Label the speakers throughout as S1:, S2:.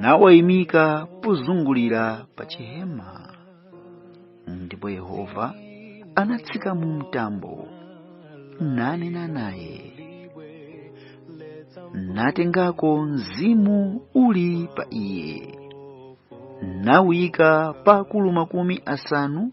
S1: nawayimika pozungulira pa chihema ndipo yehova anatsika mu mtambo nanena naye natengako mzimu uli pa iye nawuyika pa akulu makumi asanu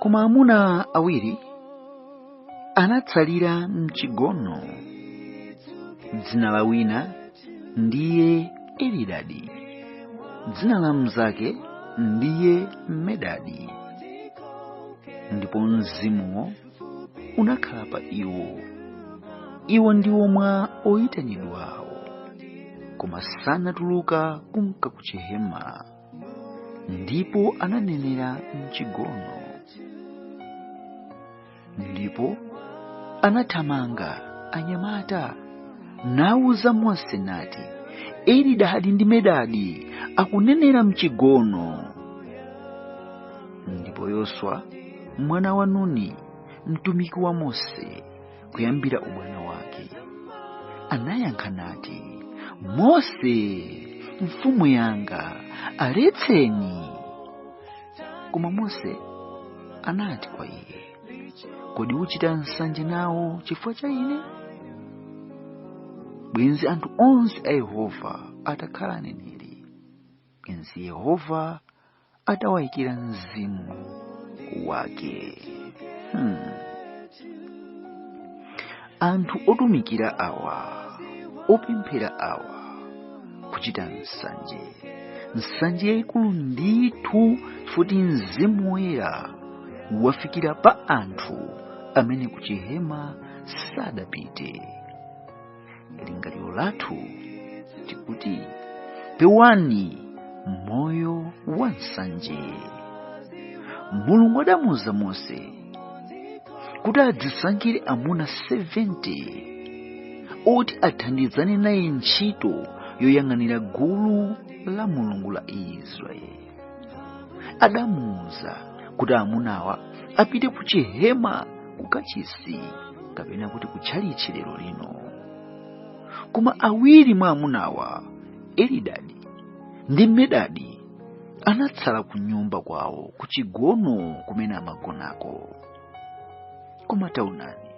S1: koma amuna awiri anatsalira mchigono dzina la wina ndiye elidadi dzina la mnzake ndiye medadi ndipo mzimuwo unakhala pa iwo iwo ndiwo mwa oyitanidwawo koma sanatuluka kumka ku chihema ndipo ananenera mchigono ndipo anathamanga anyamata nauza mose nati elidadi ndi medadi akunenera mchigono ndipo yoswa mwana wa nuni mtumiki wa mose kuyambira ubwana wake anayankha nati mose mfumu yanga aletseni koma mose anati kwa iye kodi uchita nsanje nawo chifukwa cha ine bwenzi anthu onse a yehova atakhala aneneri bwenzi yehova atawayikira mzimu wake hmm. anthu otumikira awa opemphera awa kuchita nsanje nsanje yayikulu ndithu futi mzimu woyera wafikira pa anthu amene kuchihema sadapite lingaliro lathu tikuti pewani moyo wa nsanje mulungu adamuuza mose kuti adzisankhire amuna 70 oti athandizane naye ntchito yoyang'anira gulu la mulungu la israeli adamuuza kuti amunawa apite ku chihema ku kachisi kapena kuti ku tchalitchi lero lino koma awiri mwa amunawa elidadi ndi medadi anatsala ku nyumba kwawo ku chigono kumene amagonako koma taonani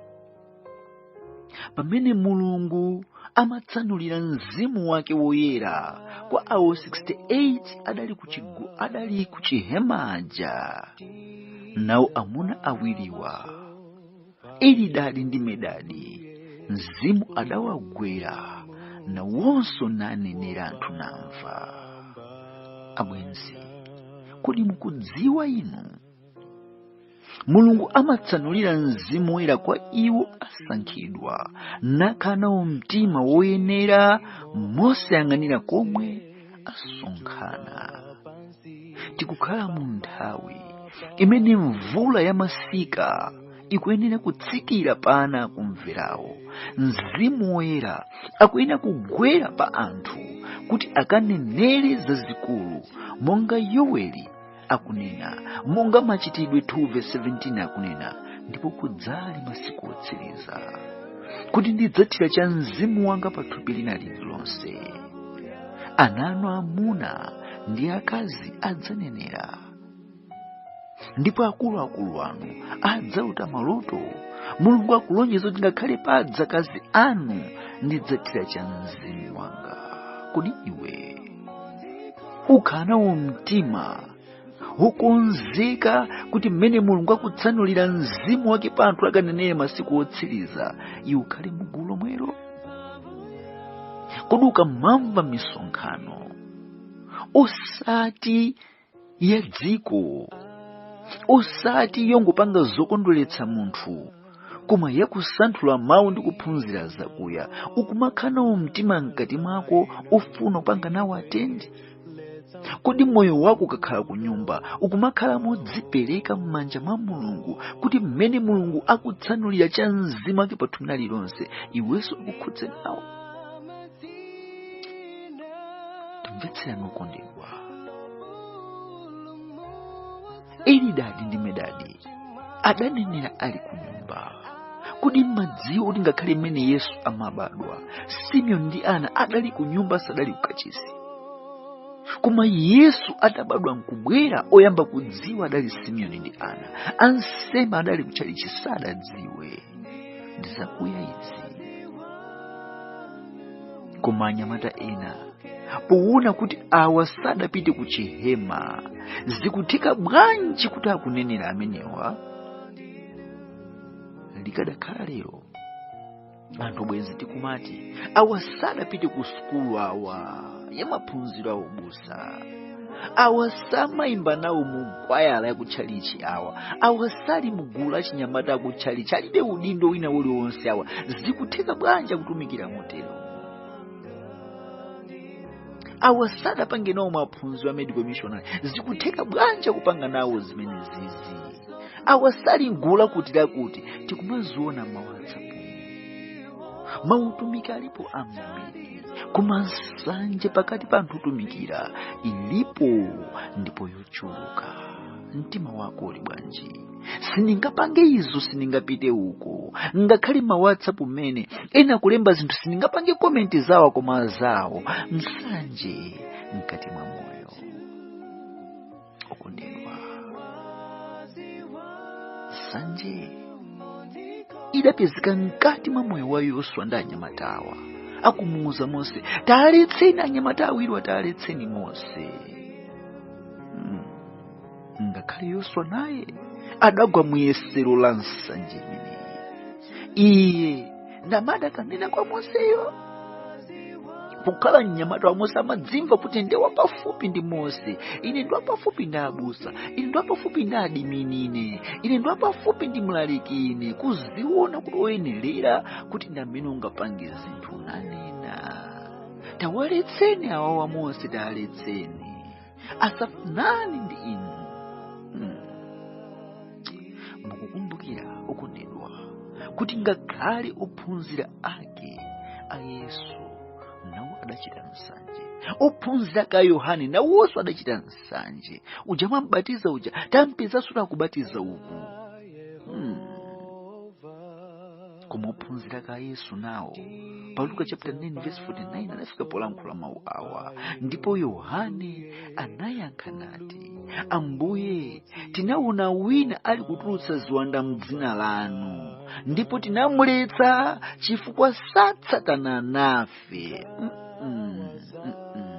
S1: pamene mulungu amatsanulira mzimu wake woyera kwa awo 68 adali ku chigu- adali ku chihema aja nawo amuna awiriwa elidadi ndi medadi mzimu adawagwera nawonso nanenera anthu namva abwenzi kodi mukudziwa inu mulungu amatsanulira mzimu woyera kwa iwo asankhidwa nakhala nawo mtima woyenera mosayang'anira komwe asonkhana tikukhala mu nthawi imene mvula ya masika ikuyenera kutsikira pa ana akumverawo mzimu woyera akuyenera kugwera pa anthu kuti akanenere zazikulu monga yoweli akunena monga machitidwe 2:17 akunena ndipo kudzali masiku otsiriza kuti ndidzathira cha mzimu wanga pa thupi lina lililonse ana anu amuna ndi akazi adzanenera ndipo akuluakulu anu adzalota maloto mulungu akulonjeza kuti ngakhale pa adzakazi anu ndidzathira cha mzimu wanga kodi iwe ukhala nawo mtima wokonzeka kuti mmene mulungu akutsanulira mzimu wake pa anthu akanenere masiku otsiriza iwe ukhale mu gulu lomwelo kodi ukamamva misonkhano osati ya dziko osati yongopanga zokondweretsa munthu koma yakusanthula mawu ndi kuphunzira zakuya ukumakhala nawo mtima mkati mwako ofuna kupanga nawo atendi kodi moyo wako ukakhala ku nyumba ukumakhala modzipereka m'manja mwa mulungu kuti mmene mulungu akutsanulira cha mzimu wake pa thupi lililonse iwenso akukhudze nawo timvetserani okondedwa elidadi ndi medadi adanenera ali ku nyumba kodi mmadziwa kuti ngakhale mmene yesu amabadwa simeoni ndi ana adali ku nyumba sadali ku kachisi koma yesu atabadwa nkubwera oyamba kudziwa adali simeoni ndi ana ansembe adali kutchalichi sadadziwe ndizakuya izi koma anyamata ena powona kuti awa sadapite ku chihema zikutheka bwanji kuti akunenera amenewa likadakhala lero anthu bwezi tikumati awa sadapite ku sukulu awa yamaphunziro aubusa awa samayimba nawo mu kwayala ya kutchalichi awa awa sali mgulu la chinyamata kutchalichi alibe udindo wina uliwonse awa zikutheka bwanji kutumikira motero awa sadapange nawo maphunziro a medical missionary zikutheka bwanji kupanga nawo zimene zizi awa sali mgulu lakuti lakuti tikumaziona mawatsapu mautumiki alipo ambiri koma nsanje pakati pa anthu otumikira ilipo ndipo yochuluka mtima wako uli bwanji sindingapange izo sindingapite uko ngakhale ma whatsapp mmene ena kulemba zinthu sindingapange komenti zawo koma zawo nsanje mkati mwa moyo okondedwa nsanje idapezeka mkati mwa moyo wa yoswa ndi anyamatawa akumuuza mose taaletseni anyamata awiriwa taaletseni mose mm. ngakhale yoswa naye adagwa muyesero la nsanje imeneyi iye ndi amene adakanena kwa moseyo kukhala mnyamata wa mose amadzimva kuti ndi wapafupi ndi mose ine ndi wapafupi ndi abusa ine ndi wapafupi ndi adimini ine ine ndi wapafupi ndi mlaliki ine kuziona kuti woyenerera kuti ndi amene ungapange zinthu nanena tawaletseni awawa mose tawaletseni asafanane ndi inu Hmm. mukukumbukira okondedwa kuti ngakhale ophunzira ake a yesu nawo adachita nsanje ophunzira ake a yohane nawonso adachita nsanje uja munambatiza uja tampezanso akubatiza uku hmm. koma ophunzira ake a yesu nawo pa luka chapter 9 verse 49 anafika polankhula mawu awa ndipo yohane anayankha nati ambuye tinaona wina ali kutulutsa ziwanda mdzina lanu ndipo tinamuletsa chifukwa satsatana nafe mm -mm, mm -mm.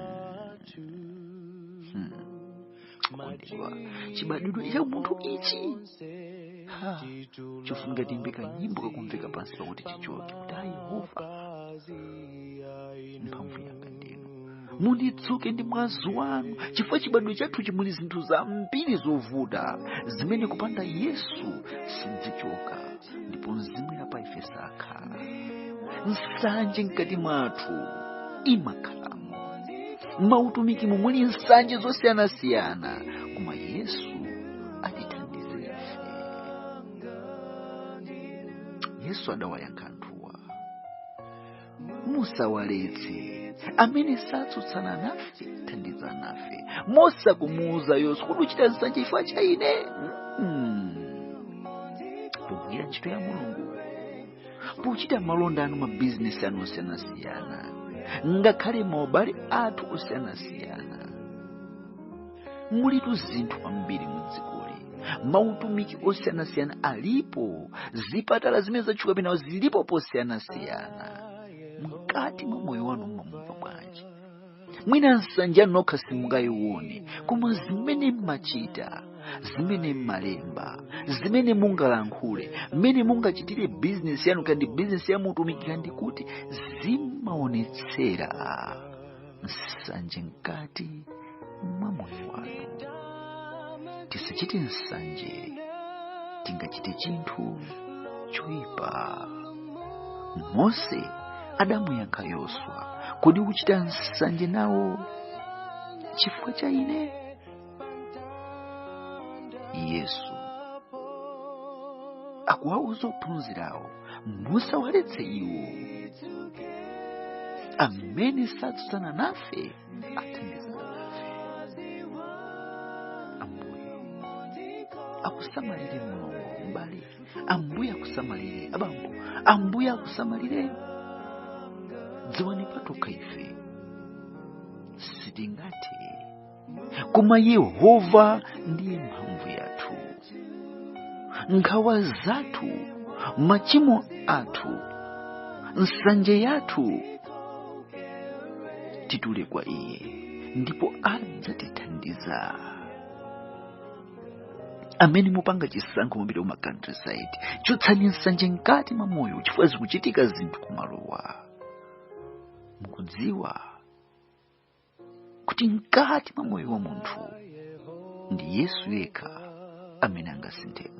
S1: okondedwa chibadwidwe cha munthu ichi Ha, chofunika tiimbe kanyimbo kakumveka pansi pakuti tichoke kuti a yehova mphamvu yanga ndinu munditsuke ndi mwazi wanu chifukwa chibadwidwe chathuchi muli zinthu zambiri zovuta zimene kupanda yesu sizichoka ndipo mzimu wa pa ife sakhala nsanje mkati mwathu imakhala mautumikimu muli nsanje zosiyanasiyana koma yesu atithandize ife yesu adawayankha anthuwa musawaletse amene satsutsana nafe athandiza nafe mose akumuuza yoswa kuti uchita nsanje chifukwa cha ine pogwira ntchito ya mulungu pochita malonda anu mabizinesi anu osiyanasiyana ngakhale maubale athu osiyanasiyana mulitu zinthu zambiri mudzikoli mautumiki osiyanasiyana alipo zipatala zimene zatchuka penawo zilipo posiyanasiyana mkati mwa moyo wanu mumamva bwanji mwina nsanje nokha simungayione koma zimene mmachita zimene mmalemba zimene mungalankhule mmene mungachitire bizinesi yanu kandi bizinesi ya mutumiki kandi kuti zimaonetsera nsanje mkati mwa moyo wanu tisachite nsanje tingachite chinthu choyipa mose adamuyankha yoswa kodi uchita nsanje nawo chifukwa cha ine yesu akuwauza ophunzirawo musawaletse iwo amene satsutsana nafe athandiza nafe ambuye akusamalire mulungu mbale ambuye akusamalire abambo ambuye akusamalire dziwani patokha ife sitingathe koma yehova ndiye mphamvu yathu nkhawa zathu machimo athu nsanje yathu titule kwa iye ndipo adzatithandiza amene mupanga chisankho mupita kuma countryside chotsani nsanje mkati mwa moyo chifukwa zikuchitika zinthu kumalowo mukudziwa kuti mkati mwa moyo wa munthu ndi yesu yekha amene angasinthemo